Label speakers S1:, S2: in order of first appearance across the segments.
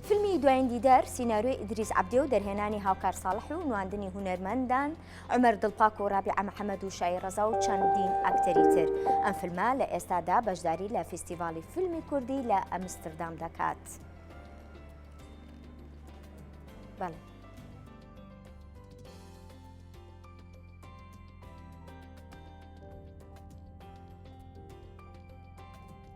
S1: فیلمی دواین دیدار سیناریۆی ئیدریس عەبدێ و دەرهێنانی هاوکار ساڵح و نواندنی هونەرمەندان عومەر دڵپاک و ڕابیعە محەمەد و شایی ڕەزا و چەندین ئەکتەری تر ئەم فیلمە لە ئێستادا بەشداری لە فیستیڤاڵی فیلمی کوردی لە ئەمستردام دەکات. بەڵێ.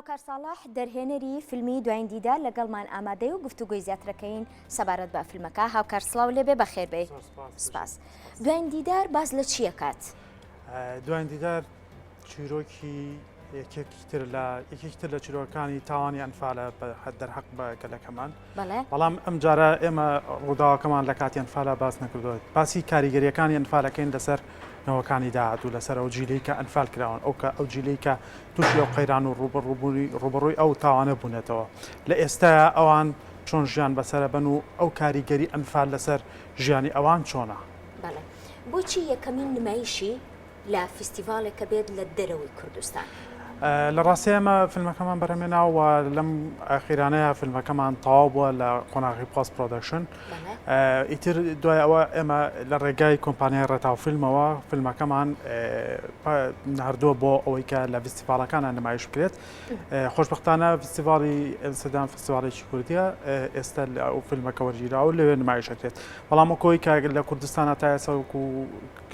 S1: هاوکار ساڵح دەرهێنەری فیلمی دوایین دیدا لەگەڵمان ئامادەی و گفتوگوی زیاترەکەین سەبارەت بە فیلمەکە هاوکار سلااو لێبێ بەخێربێ سپاس دوایین دیدار باز لە چیەکات دوایین
S2: دیدار چیرۆکی یەکێکی تر لە یەکێکی تر لە چیرۆکانی تاوانی ئەنفالە دەرحەق بە گەلەکەمان بەڵام ئەم جارە ئێمە ڕووداوەکەمان لە کاتی ئەنفالە باس نەکردوێت باسی کاریگەریەکانی ئەنفالەکەین لەسەر نەوەکانی داهاتوو لەسەر ئەو جیلی کە ئەنفال کراون ئەو کە ئەو جیلی کە تووشی ئەو قەیران و ڕوبڕوبوونی ڕوبڕووی ئەو تاوانە بوونەتەوە لە ئێستا ئەوان چۆن ژیان بەسرە بن و ئەو کاریگەری ئەنفال لەسەر ژیانی ئەوان چۆنە
S1: بۆچی یەکەمین نمایشی لە فیستیڤاڵێک کە بێت لە دەرەوەی کوردستان. لە ڕاستی
S2: ئێمە فیلمەکەمان بەرهەمێناوە و لەم ئاخیرانەیە فیلمەکەمان تەواو بووە لە قۆناغی پۆست پرۆدەکشن ئیتر دوای ئەوە ئێمە لە ڕێگای کۆمپانیای ڕێتاو فیلمەوە فیلمەکەمان نردووە بۆ ئەوەی کە لە فیستیڤالەکانە نمایش بکرێت خۆشببختانە فیستیڤاڵی ئەمسدان فیستیڤالێکی کوردیە ئێستا لە ئەو فیلمەکە وەرگیرا و لەوێ نمایشەکرێت بەڵام کۆی کاگەر لە کوردستانە تا ئێسەک و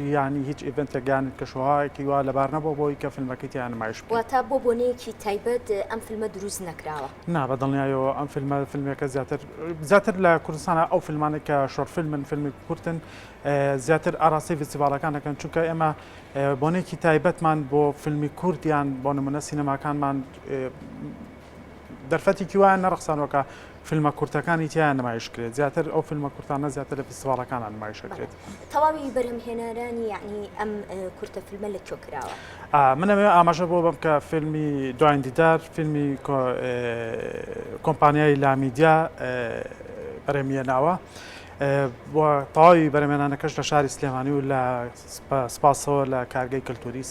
S2: یانی هیچ ئیڤنتێک یان کەشوهەوایەکی وا لەبار نەبووە بۆ ئەوەی کە فیلمەکەی تیا نمایش بکەین. واتە بۆ بۆنەیەکی
S1: تایبەت ئەم فیلمە دروست نەکراوە؟ نا بە دڵنیایەوە
S2: ئەم فیلمە فیلمێکە زیاتر زیاتر لە کوردستانە ئەو فیلمانە کە شۆرت فیلمن فیلمی کورتن زیاتر ئاراستەی فیستیڤاڵەکان دەکەن چونکە ئێمە بۆنێکی تایبەتمان بۆ فیلمی کورت یان بۆ نمونە سینەماکانمان دەرفەتێکی وایان نەڕەخسانەوە کە فیلمە کورتەکانی تیایا نمایش کرێت زیاتر ئەو فیلمە کورتانە زیاتر لە فیستیڤاڵەکانا نمایش ئەکرێت. تەواوی بەرهەم
S1: هێنارانی یەعنی ئەم کورتە فیلمە لە کوێ کراوە؟ من ئەوێ ئاماژە
S2: بۆ بەم کە فیلمی دواین دیدار فیلمی کۆمپانیای لامیدیا بەرەمیە ناوە تەواوی بەرەمێنانەکەش لە شاری سلێمانی و لە سپاسەوە لە کارگەی کەلتوری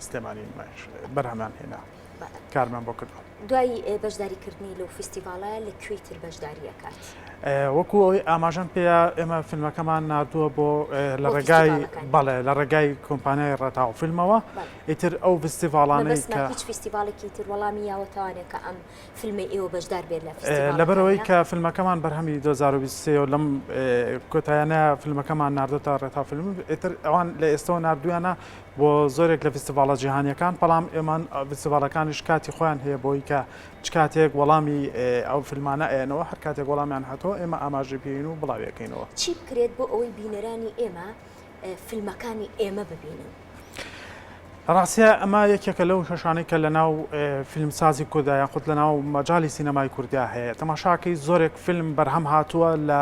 S2: سلێمانی بەرهەمان هێنا. کارمان بۆ کردوە. دوای بەشداری
S1: کردنی لەو فیستیڤاڵە لە کوێی تر بەشداری ئەکات؟ وەکو ئەوەی
S2: ئاماژەم پێیە ئێمە فیلمەکەمان ناردووە بۆ لە ڕێگای بەڵێ لە ڕێگای کۆمپانیای ڕێتاو فیلمەوە ئیتر ئەو فستیڤاڵانەی کە هیچ فیستیڤاڵێکی تر
S1: وەڵامی یاوە توانێت کە ئەم فیلمی ئێوە بەشدار بێت لە لەبەرەوەی کە فیلمەکەمان
S2: بەرهەمی 2023 لەم کۆتایانە فیلمەکەمان ناردۆتە ڕێتا فیلم ئیتر ئەوان لە ئێستەوە نردویانە بۆ زۆرێک لە فیستیڤاڵە جیهانیەکان بەڵام ئێمە فیستیڤاڵەکانیش کاتی خۆیان هەیە بۆی کە چ کاتێک وەڵامی ئەو فیلمانە ئەیەنەوە هەر کاتێک وەڵامیان هاتەوە ئێمە ئاماژەی پێین و بڵاویەکەینەوە چی بکرێت بۆ
S1: ئەوەی بینەرانی ئێمە فیلمەکانی ئێمە ببینن؟
S2: ڕاستە ئەمە یەکێکە لەو کێشانەی کە لە ناو فیلمسازی کورددا یاخود لە ناو مەجای سینەمای کوردیا هەیە تەماشاکەی زۆرێک فیلم بەرهەم هاتووە لە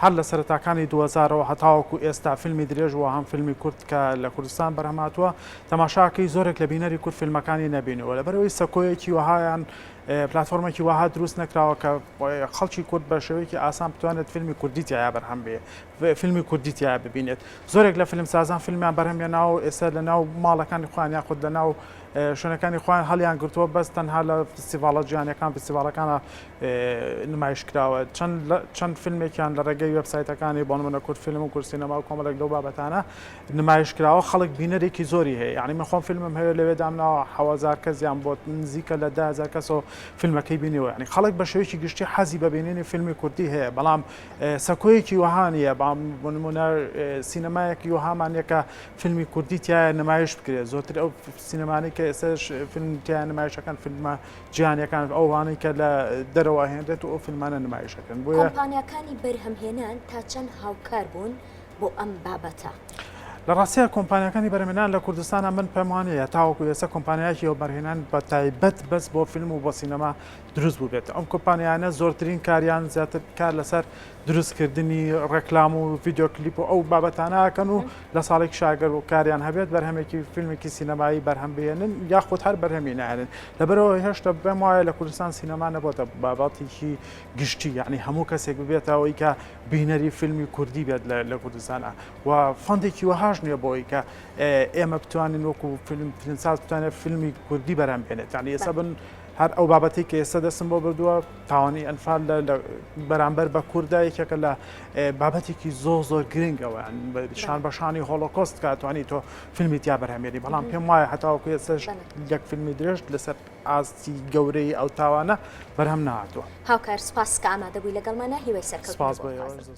S2: هەر لە سەرەتاکانی دوو هەزارەوە هەتاوەکو ئێستا فیلمی درێژ و هەم فیلمی کورت کە لە کوردستان بەرهەم هاتووە تەماشاکەی زۆرێک لە بینەری کورد فیلمەکانی نەبینیوە لەبەرئەوەی سەکۆیەکی وەها یان پلاتفۆرمێکی وەها دروست نەکراوە کە خەڵکی کورد بە شێوەیەکی ئاسان بتوانێت فیلمی کوردی تیا بەرهەم بێ فیلمی کوردی تیا ببینێت زۆرێک لە فیلمسازان فیلمیان بەرهەمێ ناو ئێستا لە ناو ماڵەکانی خۆیان یاخود لە ناو شوێنەکانی خۆیان هەڵیان گرتووە بەس تەنها لە فستیڤاڵە جیهانیەکان فستیڤاڵەکانە نمایش کراوە چەند فیلمێکیان لە ڕێگەی وبسایتەکانی بۆن منە کورد فیلم و کورسینەما و کۆمەلێک لەو بابەتانە نمایش کراوە خەڵک بینەرێکی زۆری هەیە یعنی من خۆم فیلمم هەیە لەوێ دامناوە حەوازار کەزیان بۆ نزیکە لە دازار کەسەوە فیلمەکەی بینیەوە ینی خەڵک بە شێوەیەکی گشتی حەزی بەبینینی فیلمی کوردی هەیە بەڵام سەکۆیەکی وهانە بام بۆ نمونە سینەمایەکی وهامانەکە فیلمی کوردی تیایە نمایش بکرێت زۆتر ئەو سینەمانەی کە ئێسش فیلم تیان نمایشەکان فیلمە جیانەکان ئەوانەی کە لە دەرەوە هێنرێت و ئەو فیلمانە نمایشەکەن بۆ کۆمپانیەکانی
S1: بەرهەمهێنان تا چەند هاوکار بوون بۆ ئەم بابەتە. لە ڕاستیە
S2: کۆمپانیەکانی بەرمێنان لە کوردستانە من پەموانەیە تاوەکو ئێستا کۆمپانیایکی و بەرهێنان بە تایبەت بەس بۆ فیلم و بۆ سینەما دروست بووبێت ئەم کۆمپانیانە زۆرترین کاریان زیاتر کار لەسەر دروستکردنی ڕێکلام و ڤیدیۆ کلیپ و ئەو بابەتانە ئەکەن و لە ساڵێک شاگەر و کاریان هەبێت بەرهەمێکی فیلمێکی سینەمایی بەرهەم بێنن یاخود هەر بەرهەمی نێنن لەبەرەوە هێشتا بێم وایە لە کوردستان سینەما نەبووتە باباتێکی گشتی یعنی هەموو کەسێک ببێتەوەی کە بینەری فیلمی کوردی بێت لە کوردستانە و فەندێکی وەهاش نییە بۆی کە ئێمە بتوانین وەکو فیلم فیلمساز بتوانێت فیلمی کوردی بەرهەم بێنێت یعنی ئێستا بن هەر ئەو بابەتەی کە ئێستا دەستم بۆ بردووە تاوانی ئەنفال لە بەرامبەر بە کووردا یەکێکە لە بابەتێکی زۆر زۆر گرنگەوە شان بەشانی هۆڵۆکۆست کاتوانی تۆ فیلمی تیا بەرهەمێنی بەڵام پێم وایە هەتاوەکو ئێستش یەک فیلمی درێژ لەسەر ئاستی گەورەی ئەو تاوانە
S1: بەرهەم
S2: نهاتوە
S1: هاوکار سپاس
S2: کە
S1: ئامادەبووی
S2: لەگەڵمانە
S1: هیوای سەرکەوتن